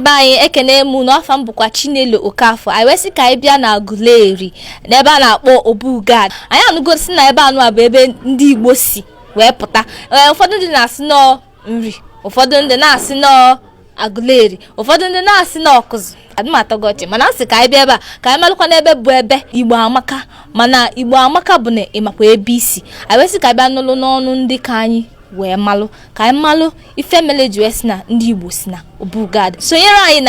be anyị ekene m unu afa m bụkwa chinelo okafọ anyị wee sị ka anyị bịa na aguleri n'ebe a na-akpọ obu gad anyị anụgo sị na ebe anụ a bụ ebe ndị igbo si wee pụta ee ụfọdụ ndị na-asị na ọ nri ụfọdụ ndị na-asị na ọ agụleri ụfọdụ ndị na-asị na ọkụzụ adị m atọ gị ọchị mana a sị ka anyị bịa ebe a ka anyị malụkwanụ ebe bụ ebe igbo amaka mana igbo amaka bụ na ị makwa ebe i si anyị wee sị ka anyị bịa nụlụ n'ọnụ ndị ka anyị wee malụ ka anyị malụ ife mele e ji wee sị na ndị igbo si na obu gad sonyere anyị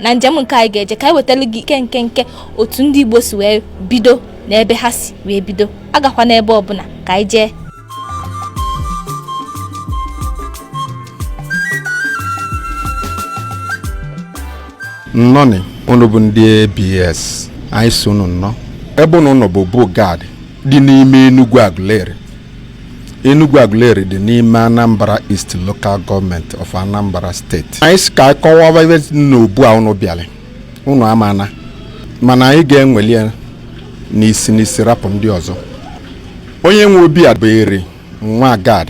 na njem nke anyị ga-eje ka anyị wetara gị nkenke otu ndị igbo si wee bido na ebe ha si wee bido agakwa n'ebe ọbụla ka anyị jee nnọnị unu bụ ndị abs anyị sị unu nnọọ ebe unu nọ bụ obu gad dị n'ime Enugu Aguleri Enugu Aguleri dị n'ime Anambra East Local Government of Anambra State anyị sị ka anyị kọwaba ebe n'obu a ụnụ bịara ụnụ amana mana anyị ga-eweli ya n'isi n'isi rapụ ndị ọzọ onye nwe obi a bụ eri nwa gad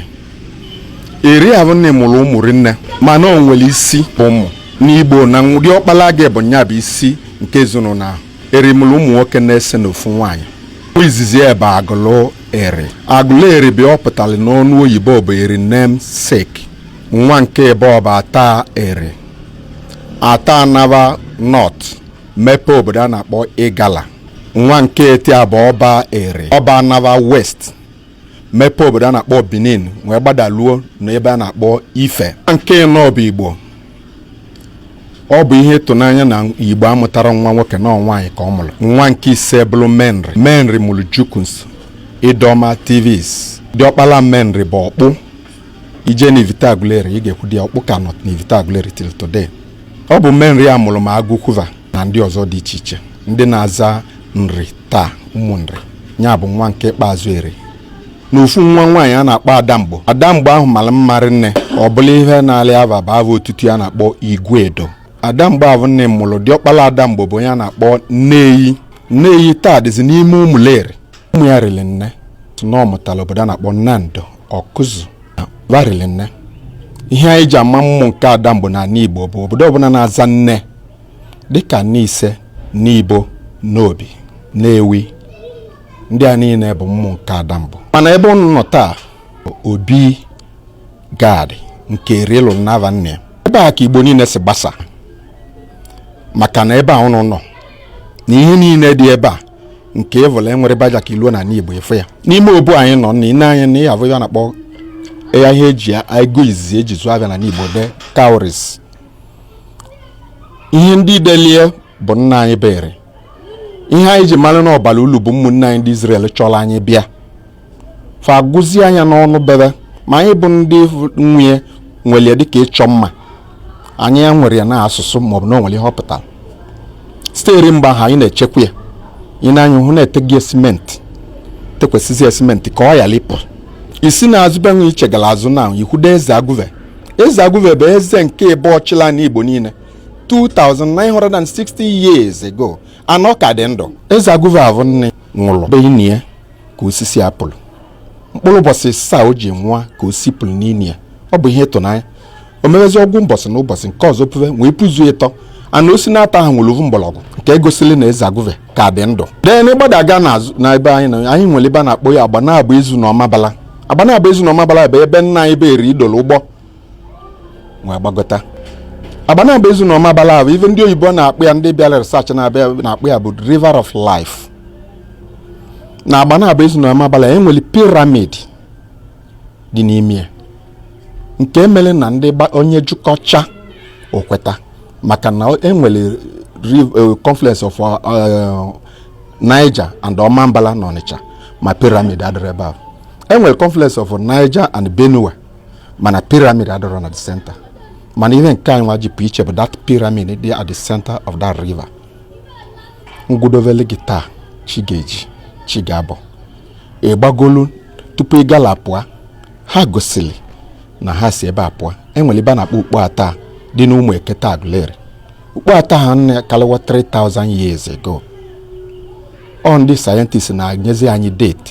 eri ahụ nne mụrụ ụmụ rinne mana o nwere isi ụmụ n'igbo na diọkpala gị bụ nya bụ isi nke ezinụlọ ahụ eri mụlụ ụmụ nwoke n'ise na ofu nwaanyị nwa izizi e bụ agụlụ eri agụlụ eri bụ ihe ọ pụtara n'ọnụ oyibo bụ eri namesake nwa nke ebụọ bụ ata eri ata anaba north mepe obodo a na-akpọ igala nwa nke etọ a bụ ọba eri ọba anaba west mepe obodo a na-akpọ benin wee gbadaluo n'ebe a na-akpọ ife nwa nke enọ bụ igbo ọ bụ ihe ịtụnanya na igbo amụtarọ nwa nwoke na ọ nwaanyị ka ọ mụrụ nwa nke ise bụrụ menri menri mụrụ jukuns idoma tivs diọkpala menri bụ ọkpụ i jee na ivite aguleri ị ga-ekwudo ya ọkpụ ka nọ na ivite aguleri till today ọ bụ menri a mụrụ ma agụkwu va na ndị ọzọ dị iche iche ndị na-aza nri taa ụmụ nri ya bụ nwa nke ikpeazụ eri na ofu nwa nwaanyị a na-akpọ adamgbo adamgbo ahụ mara mma rinne ọ bụlụ ihe nalị ava bụ ava otutu ya na-akpọ iguedo adamgbo ahụ nne mụrụ diọkpala adamgbo bụ onye a na-akpọ nneyi nneyi taa dịzi n'ime ụmụleri ụmụ ya riri nne na ọ mụtara obodo a na-akpọ nando ọkụzụ va riri nne ihe anyị ji ama ụmụ nke adamgbo na ala igbo bụ obodo ọbụla na-aza nne dịka nise nibo nnobi nnewi ndị a niile bụ ụmụ nke adamgbo mana ebe ụnụ nọ taa obi gad nke eri lụlụ n'ava nna ya ebe a ka igbo niile si gbasa maka na ebe a ụnụ nọ na ihe niile dị ebe a nke ọvụla enwere baja ka iluo na igbo efe ya n'ime obu anyị nọ na ị nee anya na ihe avụ a na-akpọ ya ihe eji ego izizi eji zụọ avịa na igbo the cowries ihe ndị delie bụ nna anyị bụ eri ihe anyị ji mara na ọ bara ulu bụ ụmụnne anyị ndị Izrel chọrọ anyị bịa fa agụzie ya n'ọnụ bebe ma anyị bụ ndị nwe ya were ya dịka ịchọ mma anyị ewerọ ya na asụsụ maọbụ na o nwere ihe ọ pụtara site eri mgbe ahụ anyị na-echekwa ya ị nee anya hụ na eteghị simenti tekwasịzi simenti ka ọ ghara ịpụ i si na azụ be nwe i chegara azụ na i kwudo eze agụve eze agụve bụ eze nke ịbụọ chịlị n'igbo niile 2960 years ago ana ọ ka dị ndụ eze agụve avụ nne nwụrụ ebe e nii ya ka osisi a pulu mkpụrụ ụbọchị ịsaa o ji nwụọ ka osisi puru n'ini ya ọ bụ ihe ịtụnanya o mewezi ovu mbọsị na ụbọchị nke ọzọ puve wee puzuo ịtọ ana osisi n'atọ ahụ nwere ovu mgbọrọgwụ nke egosili na eze agụve ka dị ndụ then ị gbadaga n'azụ na ebe anyị na anyị nwere ebe a na-akpọ ya agbanabọ ezu na ọmabala agbanabọ ezu na ọmabala bụ ebe nna anyị bụ eri dolu ụgbọ wee gbagota agbanabọ ezu na ọmabala bụ ife ndị oyibo na-akpọ ya ndị bịara research na-akpọ ya bụ river of life na agbanabọ ezu na ọmabala e nwere piramid dị n'ime ya nke mere na ndị onye jụkọcha okweta maka na e nwere eh, confluence of eh, Niger and Omambala na Onitsha ma piramid adịrọ ebe ahụ enwere confluence of Niger and Benue mana piramid adịrọ na the center mana ihe nke anyị nwa ji pụ iche bụ that piramid dị at the center of that river m kwudovele gị taa chi ga-eji chi ga-abọ ị gbagolu tupu igala pụọ ha gosiri na ha si ebe a pụọ enwere ebe a na-akpọ ukpo ata dị n'ụmụekete agụleri ukpo ata ahụ nọkalịwa 3000 years ago ọ ndị sayentist na-enyezi anyị date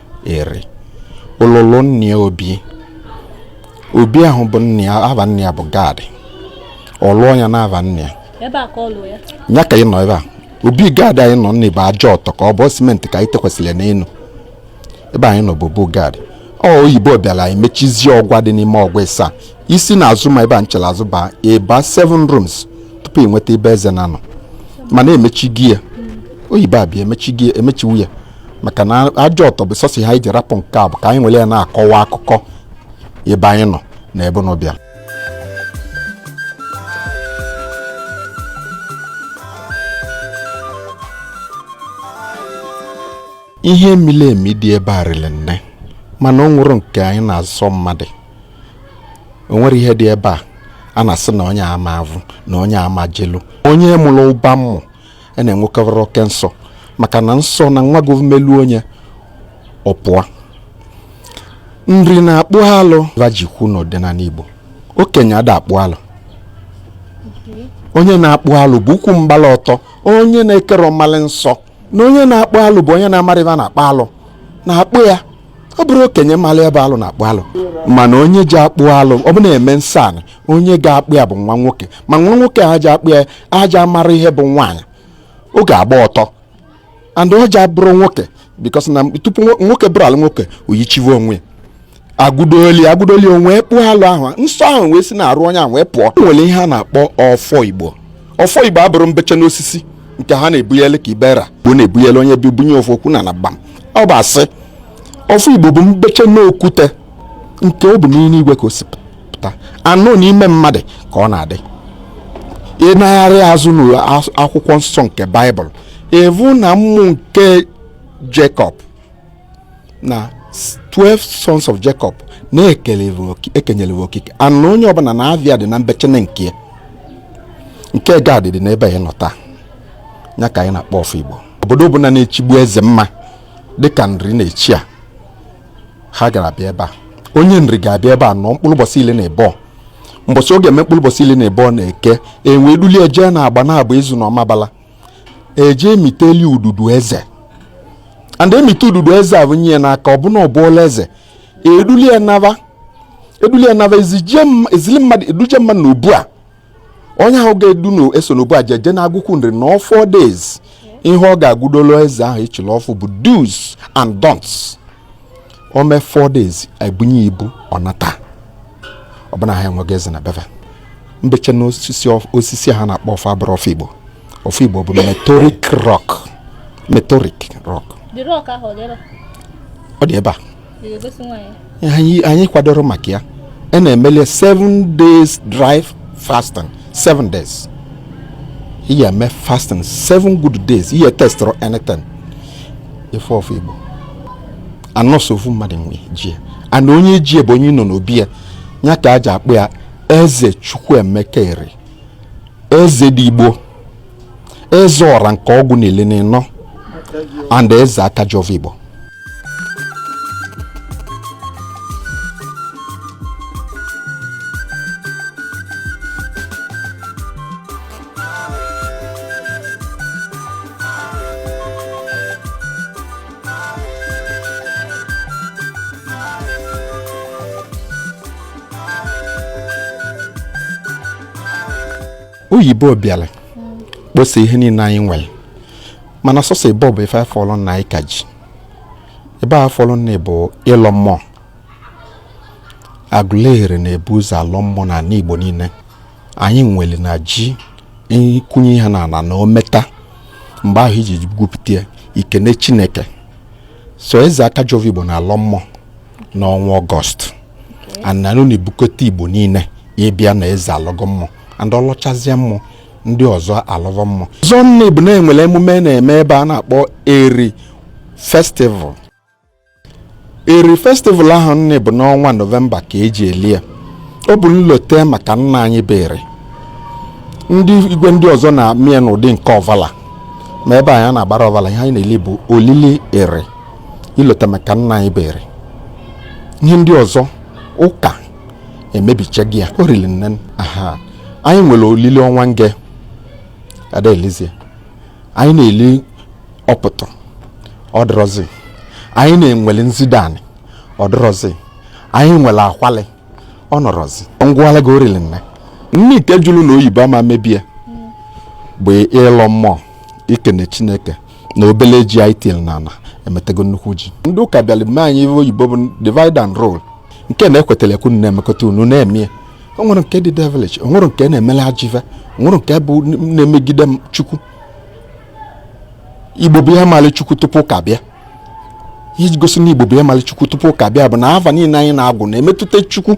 eri lụlụlụ nna ya obi obi ahụ bụ nna ya ava nna ya bụ gad ọ lụọ ya n'ava nna ya ebe a ka ọ lụọ ya ya ka ị nọ ebe a obi gad anyị nọ n'ime bụ aja ọtọ ka ọ bụ simenti ka anyị tekwasịrị n'elu ebe anyị nọ bụ obu gad ọ oyibo bịara anyị mechizie ọgwa dị n'ime ọgwa ịsaa i si na azụ ma ebe a m chere azụ baa ị baa 7 rooms tupu ị nweta ebe eze na nọ mana emechigo ya oyibo abịa emechiwu ya maka na ajọ ọtọ bụ sọsọ ihe anyị ji rapụ nke a bụ ka anyị nwere ya na-akọwa akụkọ ebe anyị nọ na ebe unu bịa ihe miri emi dị ebe a riri nne mana o nwere nke anyị na-azọ mmadụ o nwere ihe dị ebe a a na-asị na onye ama avụ na onye ama jelu onye mụrụ ụba mmụ a na-enwekarị oke nsọ maka na nsọ na nwa gọọmelu onye ọpụa nri na-akpụ alụ va ji kwu n'ọdịnala Igbo okenye ada akpụ alụ onye na-akpụ alụ bụ ukwu mgbala ọtọ onye na-akarọ malị nsọ na onye na-akpụ alụ bụ onye na-amarọ ebe a na-akpụ alụ na-akpụ ya ọ bụrọ okenye mara ihe bụ alụ na-akpụ alụ mana onye ji akpụ alụ ọ bụ na eme nsọ anị onye ga-akpụ ya bụ nwa nwoke ma nwa nwoke a ji akpụ ya aja mara ihe bụ nwaanyị ọ ga-agba ọtọ and ọ ja-abụrụ nwoke because na tupu nwoke bụrụ alụ nwoke oyichiwe onwe ya agụdoli agụdoli onwe kpụọ alụ ahụ nsọ ahụ wee si n'arụ onye ahụ wee pụọ o nwere ihe a na-akpọ ọfọ igbo ọfọ igbo abụrọ mbeche n'osisi nke ha na-ebunyele ka ibera bụ na-ebunyele onye bi bunye ọfọ ọ kụọ n'ala gbam ọ bụ asị ọfọ igbo bụ mbeche n'okwute nke ọ bụ n'ime igwe ka o si pụta anụ n'ime mmadụ ka ọ na-adị ị naghachi azụ n'akwụkwọ nsọ nke baịbụl ị vụ na ụmụ nke Jacob na 12 sons of Jacob na e kenyere va oke and na onye ọbụla na ava ya dị na mbechene nke nke Gad dị n'ebe anyị nọ taa ya ka anyị na-akpọ ọfọ Igbo obodo ọbụla na-echigbu eze mma dịka Nri na-echi ya ha ga-abịa ebe a onye Nri ga-abịa ebe a nọ mkpụrụ ụbọchị ili na abụọ mbọsị ọ ga-eme mkpụrụ ụbọchị ili na abụọ na Eke e wee dulie jee na Agbanabo Ezu na Ọmabala e jee e miteli ududu eze and emite ududu eze e bunye ya n'aka ọ bụ na ọ bụọla eze eduli ya naba eduli ya naba ezije m- ezili mmadụ eduje mmadụ na obu a onye ahụ ga-edu na esi n'obu a jeje na Agụkwu Nri nọọ four days ihe ọ ga-agụdolo eze ahụ ịchịla ọfụ bụ do's and don'ts o mee four days ebunye ibu ọ nata ọ bụ na ha enwego eze na be va mbeche na osisi osisi ha na-akpọ ọfọ abụrọ ọfọ igbo ọfọ igbo bụ meteoric rock meteoric rock ọ dị ebe a anyị kwadoro maka ya a na-emeli seven days dry fasting seven days ị ya-eme fasting seven good days ị ya-etestịrọ anything ife ọfọ igbo a na sọ ofu mmadụ nwe ji and onye ji bụ onye nọ n'obi ya ya ka a ji akpọ ya eze chukwuemeka eri eze dị igbo eze ọra nke ọgwụ n'ili na ịnọ and eze aka ji ọvọ igbo oyibo bịara kposa ihe niile anyị nwere mana sọsọ ebe ọ bụ ife afọlụ na anyị ka ji ebe a fọlụ nni bụ ịlọ mmụọ aguleri na-ebu ụzọ alọ mmụọ na ala igbo niile anyị nwere na ji ịkwụnye ihe n'ana na o meta mgbe ahụ i ji gwupụta ya i kene chineke so eze aka ji ọvọ igbo na-alọ mmụọ n'ọnwa ọgọst and ọ na-ebukọta igbo niile ịbịa na eze alọgo mmụọ and ọ lọchazie mmụọ ndị ọzọ alọva mmụọ ọzọ nni bụ na e nwere emume a na-eme ebe a na-akpọ eri festival eri festival ahụ nni bụ n'ọnwa nọvemba ka e ji eli ya ọ bụ nlote maka nna anyị bụ eri ndị igwe ndị ọzọ na-eme ya n'ụdị nke ọvala ma ebe anyị na-agbara ọvala ihe anyị na-eli bụ olili eri ilote maka nna anyị bụ eri ihe ndị ọzọ ụka emebichago ya olili nne aha anyị nwere olili ọnwa nge ada elizie anyị na-eli ọpụtụ ọ dịrọzi anyị na-enwele nzide anị ọ dịrọzi anyị nwere akwalị ọ nọrọzi m gwalụ gị olili nne nne ite jụrụ na oyibo ama mebie bụ ịlọ mmụọ ikene chineke na obele ji anyị tinyere n'ana emetego nnukwu ji ndị ụka bịara mee anyị ihe oyibo bụ divide and rule nke na-ekwetara ekwu na-emekọta unu na-eme o nwere nke dị devilish o nwere nke na-emela ajọ ive o nwere nke bụ na-emegide chukwu igbo bụ ihe mali chukwu tupu ụka bịa ihe ji gosi na igbo bụ ihe mali chukwu tupu ụka bịa bụ na ava niile anyị na-agwụ na-emetụta chukwu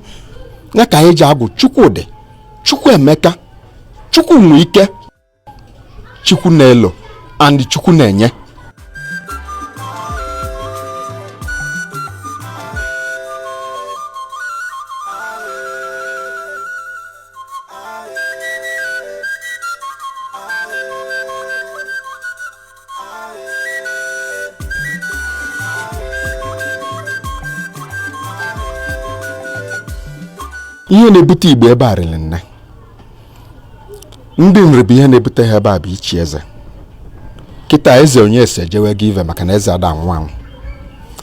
ya ka anyị ji agwụ chukwudi chukwuemeka chukwunweike chukwunelo and chukwunenye ihe na-ebute igbo ebe a riri nne ndị nri bụ ihe na-ebute ha ebe a bụ ichi eze kịta eze onyeso ejewego ive maka na eze ada anwụ anwụ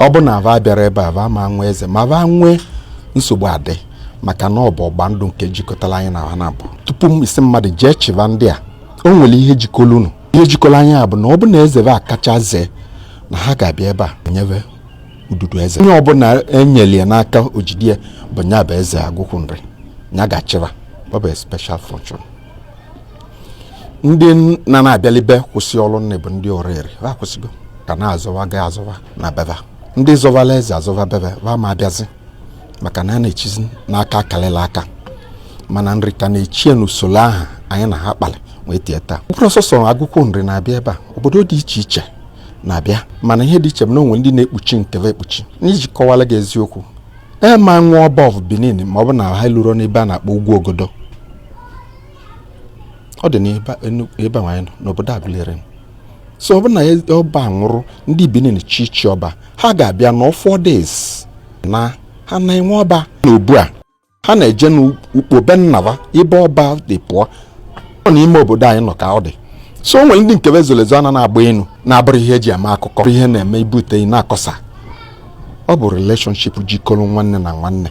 ọ bụ na va abịarọ ebe a va ama enwe eze ma va nwee nsogbu adị maka na ọ bụ ịgba ndụ nke jikọtara anyị na ha na mbụ tupu ị sị mmadụ jee chịba ndị a o nwere ihe jikọrọ unu ihe jikọrọ anyị a bụ na ọ bụ na eze va kacha zee na ha ga-abịa ebe a nye be ududu eze onye ọbụla enyere ya n'aka o jide ya bụ nya bụ eze agụkwụ nri nya ga-achịba ọ bụ special function ndị na na-abịalibe kwụsị ọrụ nne bụ ndị oraeri ha kwụsịgo ka na-azọwa ga azọwa na be va ndị zọvala eze azọva be va va ama abịazi maka na a na-echizi n'aka kalịlị aka mana nri ka na-echie n'usoro ahụ anyị na ha kpalị wee tie taa ọ bụrọ sọsọ agụkwụ nri na-abịa ebe a obodo dị iche iche na-abịa mana ihe dị iche bụ na o nwere ndị na-ekpuchi nke ve ekpuchi n'iji kọwara gị eziokwu e ma nwa ọba of benin ma ọ bụ na ha lurọ n'ebe a na-akpọ ugwu ogodo ọ dị n'ebe anyị nọ n'obodo aguleri so ọ bụ na ọba nwụrụ ndị benin chi chi ọba ha ga-abịa na four days na ha na-enwe ọba n'obu a ha na-eje n'ukpo be nna ba ebe ọba si pụọ ọ n'ime obodo anyị nọ ka ọ dị so o nwere ndị nke be zolu ezo ana na-agba inu na-abụrọ ihe eji eme akụkọ ihe na-eme ibute na-akọsa ọ bụ relationship jikọrọ nwanne na nwanne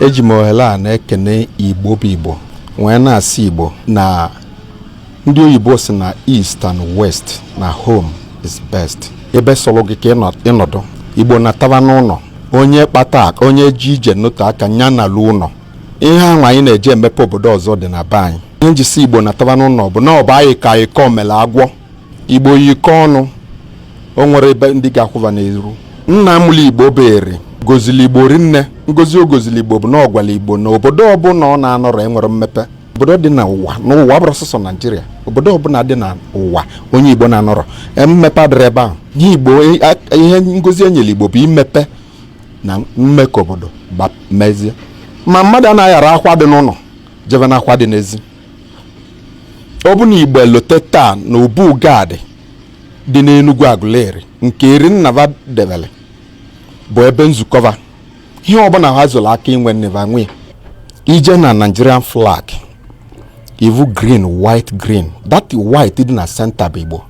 eji m ohere a na-ekene igbo bụ igbo wee na-asị igbo na ndị oyibo si na east and west na home is best ebe sọrọ gị ka ị nọdụ igbo nataba n'ụlọ onye kpata onye ji ije n'otu aka nya nalu ụlọ ihe ahụ anyị na-eji emepe obodo ọzọ dị na be anyị ihe m ji sị igbo nataba n'ụlọ bụ na ọ bụ ayịkọ ayịkọ mele agwọ igbo yikọ ọnụ o nwerọ ndị ga-akwụ ba n'iru nna mụlụ igbo bụ eri gọzili igbo rinne ngọzi ọ gọzili igbo bụ na ọ gwala igbo na obodo ọbụla ọ na-anọrọ enwerọ mmepe obodo dị n'ụwa n'ụwa ọ bụrọ sọsọ naijiria obodo ọbụla dị n'ụwa onye igbo na-anọrọ e, mmepe adịrọ ebe ahụ ihe igbo e, ihe ngọzi enyere igbo bụ imepe na mmekọ obodo mezie ma mmadụ anaghị ara akwa dị n'ụlọ jebe na akwa dị n'ezi ọ bụ na Igbo elote taa na obu Gad dị n'Enugwu Aguleri nke Eri nna va debele bụ ebe nzukọ va ihe ọbụla ha zuru aka inwe nne va nwe i jee na Nigerian flag ị vụ green white green that white dị na center bụ Igbo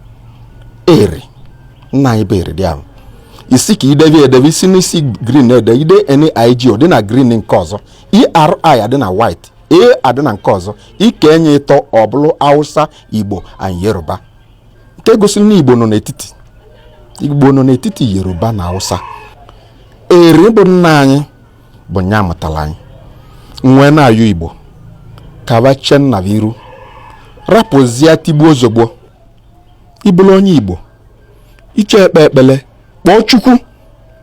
eri nna anyị bụ eri dị ahụ isi ka idebe edebe isi n'isi green ede i dee NIG ọ dị na green nke ọzọ ERI adị na white A adị na nke ọzọ i kee nya ịtọ ọ bụrụ Hausa Igbo and Yoruba nke gosiri na Igbo nọ n'etiti Igbo nọ n'etiti Yoruba na Hausa eri bụ nna anyị bụ nya mụtara anyị nwee na-ayọ Igbo ka va chee nna va iru rapụzie tigbuo zọgbuo ị bụrụ onye Igbo iche ekpe ekpele kpọọ Chukwu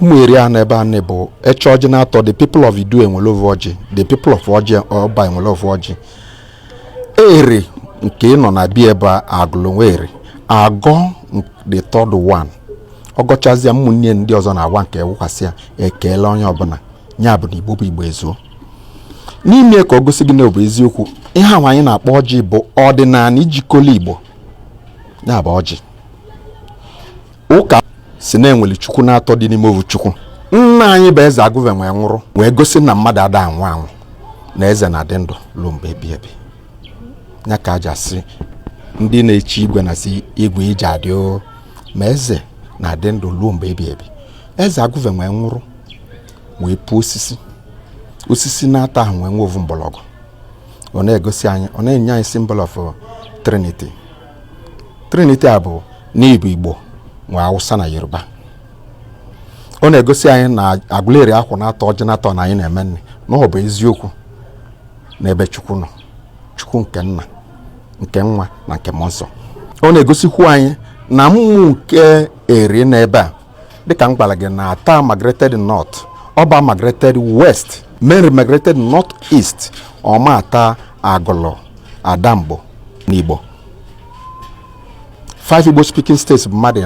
ụmụ eri a n'ebe a na-bụ e chee ọjị na-atọ the people of idu ewelu ovu ọjị the people of ọjị ọba ewelu ovu ọjị eri nke nọ na-ebi ebe a agụlụ nwa eri agọọ the third one ọ gọchazịa ụmụnne ndị ọzọ na-awa nke wụkwasị ya ekele onye ọbụla ya bụ na igbo bụ igbo ezuo n'ime ka ọ gosi gị na ọ bụ eziokwu ihe ahụ anyị na-akpọ ọjị bụ ọdịnala jikọlụ igbo ya bụ ọjị ụka sị na e nwere chukwu na-atọ dị n'ime ovu chukwu nna anyị bụ eze agụve nwee nwụrụ wee gosi na mmadụ ada anwụ anwụ na eze na-adị ndụ ruo mgbe ebi ebi ya ka e ji asị ndị na-echi igwe na-asị igwe i je adị o ma eze na-adị ndụ ruo mgbe ebi ebi eze agụve nwee nwụrụ wee puo osisi osisi na-atọ ahụ nwee nwe ovu mgbọrọgwụ ọ na-egosi anyị ọ na-enye anyị symbol of Trinity Trinity a bụ n'igbo igbo nwe awụsa na yoruba ọ na-egosi anyị na agụleri akwụ na-atọ ọjị na-atọ na anyị na-eme nni na ọ bụ eziokwu n'ebe chukwu nọ chukwu nke nna nke nwa na nke mmụọ nsọ ọ na-egosikwu anyị na mmụọ nke eri nọ ebe a dịka m gwara gị na ata migrated north ọba migrated west menri migrated north east ọma ata agụlụ adamgbo na igbo five igbo speaking states bụ mmadụ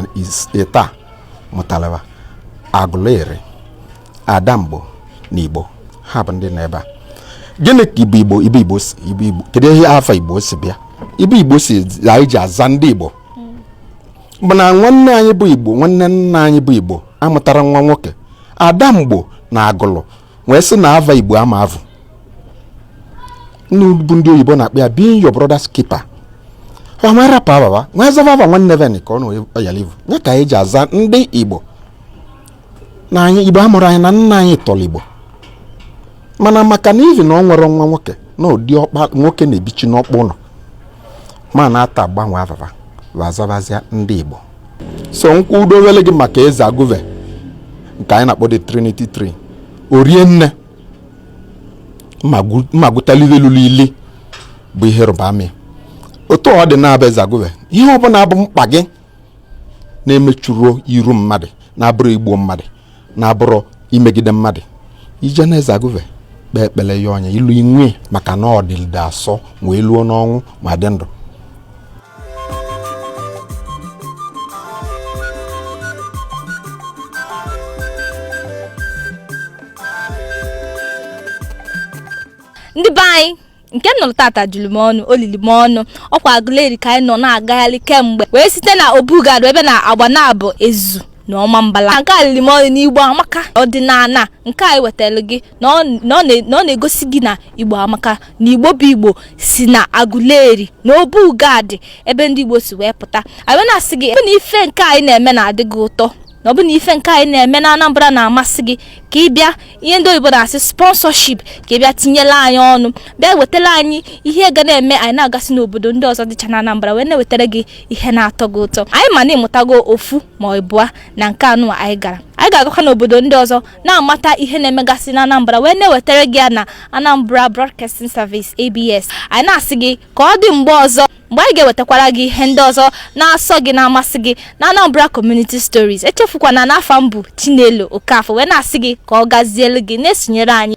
ịtọ mụtalụ va agụleri adamgbo na igbo ha bụ ndị nọ ebe a gịnị ka igbo kedu ihe ava igbo si bịa ibe igbo si anyị ji aza ndị igbo mana nwanne anyị bụ igbo nwanne nna anyị bụ igbo amụtara nwa nwoke Adamgbo na agụlụ wee sị na ava igbo ama evu bụ ndị oyibo na-akpọ ya being your brother's keeper ọ wee rapụ ava va wee zava ava nwanne va ka ọ na ọ yalị ivu ya ka anyị ji aza ndị igbo na anyị igbo amụrụ anyị na nna anyị tọrọ igbo mana maka na ivi na ọ nwere nwa nwoke na diọkpa nwoke na-ebichi n'ọkpụ ụnọ ma na-ata gbanwe ava va va zavazia ndị Igbo so m kwudowele gị maka eze agụve nke anyị na-akpọ the Trinity Tree orie nne mmagụtalilelulu ili bụ ihe rụba amị otu ọ dị na-abụ eze agụve ihe ọbụna bụ mkpa gị na-emechuru iru mmadụ na-abụrụ igbu mmadụ na-abụrụ imegide mmadụ ị je na eze agụve kpee ekpele ya ọ nye ilu inwe maka na ọ dịlide asọ wee luo n'ọnwụ ma dị ndụ ndị be anyị nke m nụrụ tata juru m ọnụ o lili m ọnụ ọ kwa Agụleri ka anyị nọ na-agagharị kemgbe wee site na Obu Gad ebe na Agbanabo Ezu na Ọmambala nke a lili m ọnụ n'igbo amaka ọdịnana nke anyị wetara gị na ọ na ọ na- na ọ na-egosi gị na igbo amaka na igbo bụ igbo si na Agụleri na Obu Gad ebe ndị igbo si wee pụta anyị wee na-asị gị ebe na ife nke anyị na-eme na-adị gị ụtọ na ọ bụ na ife nke anyị na-eme na Anambra na-amasị gị ka ị bịa ihe ndị oyibo na-asị sponsorship ka ị bịa tinyela anyị ọnụ bịa wetara anyị ihe ga na-eme anyị na-agasị n'obodo ndị ọzọ dịcha na Anambra wee na-ewetara gị ihe na-atọ gị ụtọ anyị ma na ị mụtago ofu ma ịbụa na nke a nụ anyị gara anyị ga-agakwa n'obodo ndị ọzọ na-amata ihe na-emegasị na Anambra wee na-ewetara gị ya na Anambra Broadcasting Service ABS anyị na-asị gị ka ọ dị mgbe ọzọ mgbe anyị ga-ewetakwara gị ihe ndị ọzọ na-asọ gị na-amasị gị na Anambra Community Stories echefukwana na afa m bụ Chinelo Okafọ wee na-asị gị ka ọ gazielu gị na-esonyere anyị